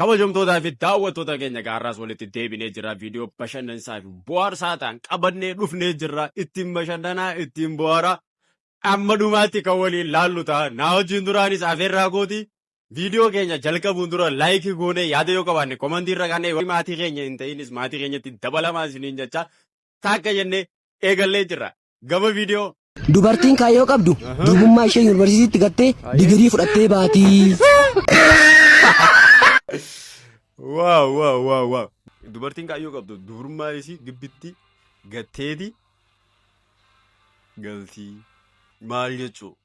Kabajamtootaa fi daawwattoota keenya gaarraas walitti deebinee jirra. Viidiyoo bashannansaa fi bohaarsaa ta'an qabannee dhufnee jirra. Ittiin bashannanaa, ittiin bohaaraa. Amma dhumaatti kan waliin laallu ta'a. Naa wajjin duraanis afeerraa kooti. Viidiyoo keenya jalqabuun dura laayikii goonee yaada yoo qabaanne komantii irra kaanee warri maatii keenya hin ta'inis maatii keenyatti dabalamaa isiniin jecha taakka jennee eegallee jirra. Gama viidiyoo. Dubartiin kaayyoo qabdu durbummaa ishee yuunivarsiitiitti gattee digirii fudhattee baatii. Waaw waaw waaw waaw. Dubartiin kaayyoo qabdu dubrummaa isii gibbitti gatteeti galtii maal jechuu?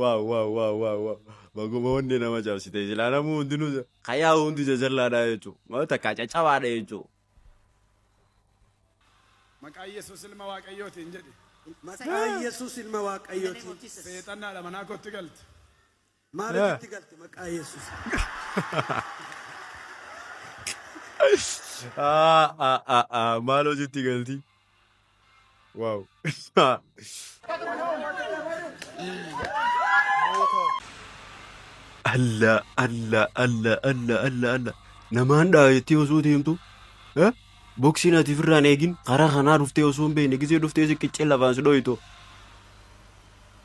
Waaw waaw waaw waaw waaw. Baguma wanni nama cabsite silaa namuu hundinuu kayaa hundi jajallaadha jechuudha. Maal takkaa caccabaadha jechuudha. Maqaa Yesuus ilma Waaqayyootiin jedhi. Maqaa Yesuus ilma Waaqayyootiin. Seexannaadha manaa kootti galte. Maarejitti galte maqaa yesus. Ah, ah, ah, ah. Maal hojiitti galti? Waaw. Alla, alla, alla, alla, alla, alla. Namaan dhaabettee osoo deemtu eh? boksiin ati firraan eegin karaa kanaa dhuftee osoo hin beekne gisee dhuftee si qiccee lafaan si dhooytu.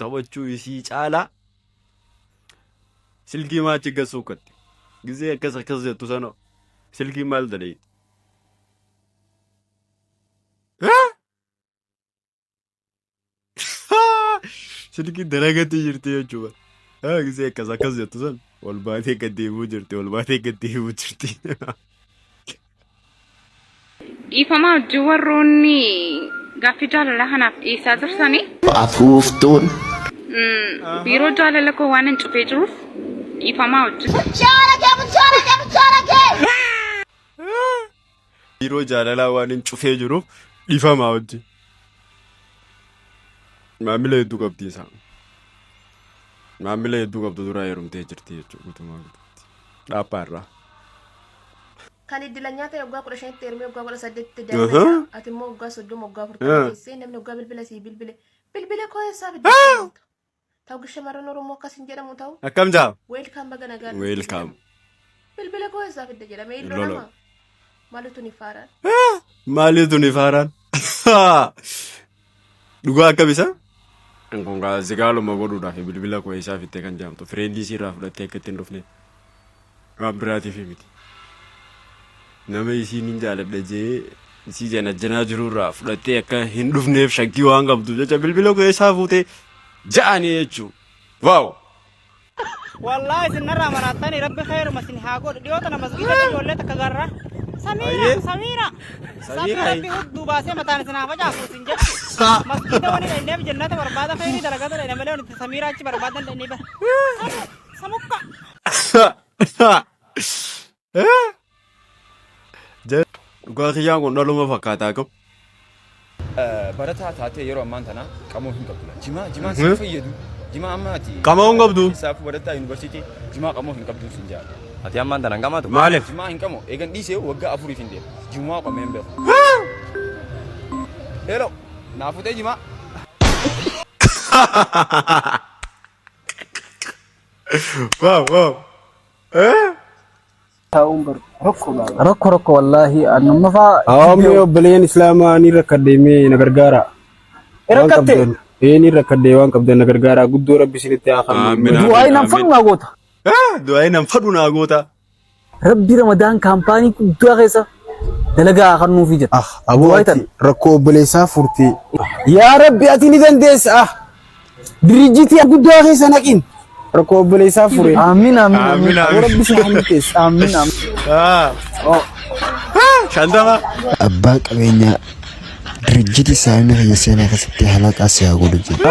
taphachuu isii caalaa silkii maachi gassuu katte gizee akkas akkas jettu sana silkii maal dadhee silkii dalagatti jirti jechuudha haa gizee akkas akkas jettu sana ol baatee gad deemuu jirti ol baatee gad deemuu jirti Dhiifama wajjin warroonni gaaffii jaalalaa kanaaf dhiyeessaa jirtanii. Afuuftuun. Biiroo jaalala koo waan hin cufee jiruuf dhiifamaa wajjin. Biiroo jaalalaa waan hin cufee jiruuf dhiifamaa wajjin. Maamila hedduu qabdi isaa. Maamila hedduu qabdu duraa heerumtee jirti jechuudha guutumaa guutuutti. Dhaaphaa irraa. Kan iddilanyaa ta'e waggaa 15tti heerumee waggaa 18tti Aha. daa'ima ati immoo waggaa 30 waggaa 40 Ah. keessee namni waggaa bilbila sii bilbile bilbila koo eessaa fidde ta'u shamarran oromoo akkas hin jedhamu ta'u Akkam jaa? weelkaam baga nagaa dhufte Weelkaam. jedhama. bilbila koo eessaa fidde jedhamee illo Lola. nama malutu ni faaraan Maaliitu ni faaraan? Dhugaa akkam isa? Kun gaa zigaaluma godhuudhaaf bilbila koo eessaa fittee kan jaamtu fireendii isiirraa fudhattee akka ittiin dhufne waan biraatiif miti. Nama isiin hin jaaladha jee isii janajjanaa jirurraa fudhattee akka hin dhufneef shakkii waan qabdu jecha bilbila koo eessaa fuutee ja'anii jechuu. Waaw! Wallahi isin narraa maraattanii rabbi kheeruma isin haa godhu. Dhiyoo tana masgiidatti ijoollee takka garra. Samiira, Ayyee. Samiira. Samiira, Samiira ayy. rabbi hudduu baasee mataan isin haa facaasu isin jedhu. Sa. Masgiida wani dhaqneef jennata barbaada kheyrii dalagata dhaqne malee wani itti Samiira achi barbaadan dhaqnee bara. Samu, samukka. Sa. Sa. Dhugaa kiyyaan kun dhaluma fakkaataa qabu. Barataa taatee yeroo ammaan tana qamoo hin qabdu. Jimaa jimaa si fayyadu. Jimaa amma ati. Qamoo hin qabdu. Saafuu barataa yuunivarsiitii jimaa qamoo hin qabdu sin jaala. Ati ammaan tana hin qamaatu. Maaliif? Jimaa hin qamoo eegan dhiisee waggaa afuriif hin deemu. Jimaa qamee hin beeku. Hello naa futee jimaa. Waaw waaw. taa'uun bar rakkoo baay'ee. Rakko rakko wallaahi annumma faa. Hawaamni obboleeyyan Islaamaa ni rakkadde mee na gargaara. Waan Rakkatte qabdan. Ee ni rakkadde waan qabdan na gargaara. Guddoo rabbi isinitti haa Amiin, kennu. amiin. du'aayi nan fadhu naa goota. Du'aayi nan fadhu naa goota. Rabbi Ramadaan kaampaanii guddaa keessa dalagaa haa kennuufi jedha. Ah, aboo Du'aayi ati rakkoo obboleessaa furtee. Yaa rabbi ati ni dandeessa. Ah, Dirijjitii guddaa keessa naqiin. Rakkoo obboleessaa fure. Amiin amiin amiin. Amiin, amiin. Rabbi si haa milkeessu. Amiin amiin. Shantama. Abbaan qabeenyaa dirijjiti saamni kiyya seenaa keessatti halaqaa si haa godhu jedhe.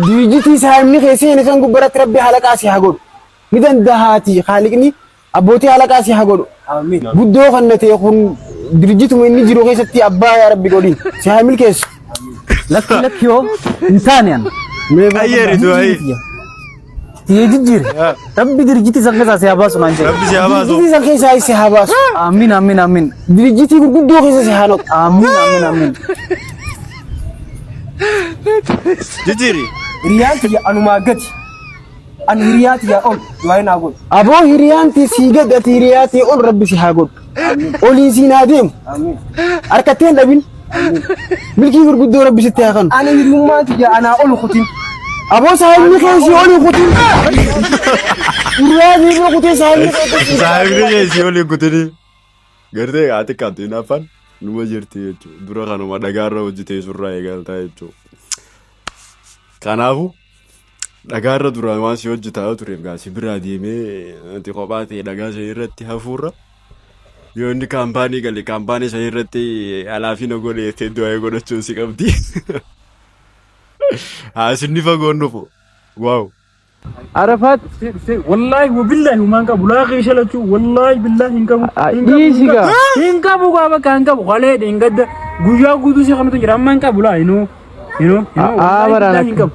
Dirijjitii saamni kee seene san gubbaratti rabbi halaqaa si haa godhu. Ni dandahaatii haaliqni Abbootii halaqaa si haa godhu. Guddoo kan natee kun dirjituma inni jiru keessatti abbaa yaa rabbi godhin si haa milkeessu. Lakki lakki yoo hin taane an. Ayyeeritu ayyi. Tiyee jijjiire. Rabbi dirjiti san keessaa si haa baasu naan jedhe. Rabbi si haa baasu. Dirjitii san keessaa si haa baasu. Amiin amiin amiin. Dirjitii gurguddoo keessa si haa naqu. Amiin amiin amiin. Jijjiiri. Hiriyaan kiyya anumaa gati. Ani hiriyaa tiyyaa ol du'aayi naa godhu. Aboo hiriyaan tee sii gad ati hiriyaa tee ol rabbi si haa godhu. Oliin siin haa deemu. Amiin. Harkattee hin dhabin. Milkii gurguddoo rabbi sitti haa kanu. Ani hiriyummaa tiyyaa anaa ol kutin. Aboo saahibni kee sii olii kutin. Hiriyaa tee bira kutee saahibni kee kutin. Saahibni kee sii olii kutini. Gartee haati qabdi hinaaffaan numa jirti jechuudha. Dura kanuma dhagaarra hojjetee surraa eegaltaa jechuudha. Kanaafuu Dhagaa irra duraan waan si hojjetaa tureef gaa si biraa deemee ati kophaa ta'e dhagaa sana irratti hafuurra yoo inni kaampaanii gale kaampaanii sana irratti alaafina godhe jettee du'aa godhachuun si qabdi. Haa isinni fagoon dhufu. Waaw. Arafaat si- si- wallaahi wabillaahi humaan qabu laaqii shalachuu wallaahi billaahi hin qabu Ah, hin qabu, hin dhiisi qabu. gaa. hin qabu gaa bakka hin qabu qolee hin gadda guyyaa guutuu si kanatu jira amma hin qabu laa inuu inuu inuu Ah, ah, wallaahi baraan billaahi hin akka- qabu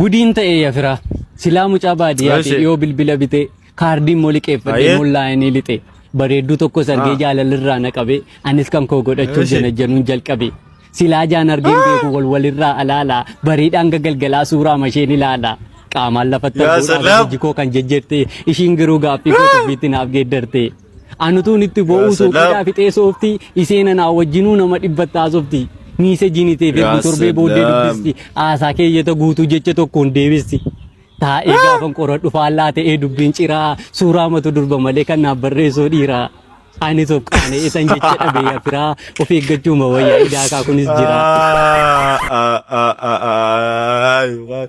Gudiin ta'e ya firaa. Silaa mucaa baadiyyaati Eeshe. dhiyoo bilbila bitee kaardii immoo liqeeffadhee Baay'ee. immoo laayinii lixee bareedduu tokko sargee Ah. jaalalirraa na qabee anis kan koo godhachuuf Eeshe. janajjanuun jalqabe. Silaa jaan argeen beeku wal walirraa alaala bareedhaan gagalgalaa suuraa masheen ilaala. Qaamaan lafatti Yaa arguudhaan salaam. hojii koo kan jejjerte ishiin garuu gaaffii koo tuffiitti naaf geeddarte. Anutuun itti Yaa bo'uu salaam. suuqiidhaa fixee soofti iseen anaa wajjinuu nama dhibbatti haasofti. Miisejiin itee Yaa ergu torbee booddee salaam. dubbisti. Haasaa keeyyata guutuu jecha tokkoon deebisti. Taa'ee gaafan qoradhu faallaa ta'ee dubbiin ciraa suuraa matu durba malee kan naaf barreessoo dhiiraa. Anis of qaane isan jecha dhabee yafiraa of eeggachuuma wayyaa idaakaa kunis jiraa. Ah, ah, ah, ah, ah, ah.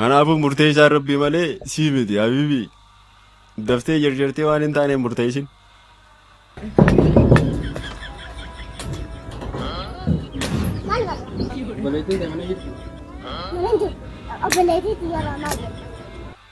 Kanaafuu murteessaan rabbii malee sii miti habiibii. Daftee jarjartee waan hin taane murteessin. Obboleettii kana jechuudha. Obboleettii yeroo maal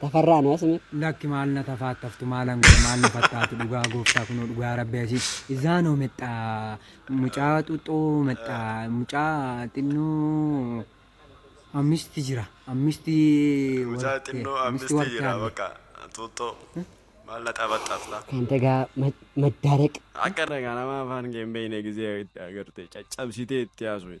Tafarraa no asime. Lakki maal na tafaattaftu maalan godha maal na fattaatu dhugaa gooftaa kunoo dhugaa rabbi asii izaanoo mexxaa mucaa xuxxoo mexxaa mucaa xinnoo ammisti jira ammisti Mucaa warqee xinnoo ammisti ammisti warqee jira arge bakka xuuxxoo maal na taphattaafta. Kan tagaa maddaaraq. Akka dhagaa nama afaan kee hin beekne gizee itti agarte caccabsitee itti haasofte.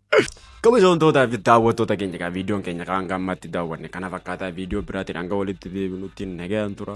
Kabajamtootaa fi daawwattoota keenya egaa viidiyoon keenya kan gammatti daawwanne kana fakkaataa viidiyoo biraatiin hanga walitti deebinutti nagaan tura.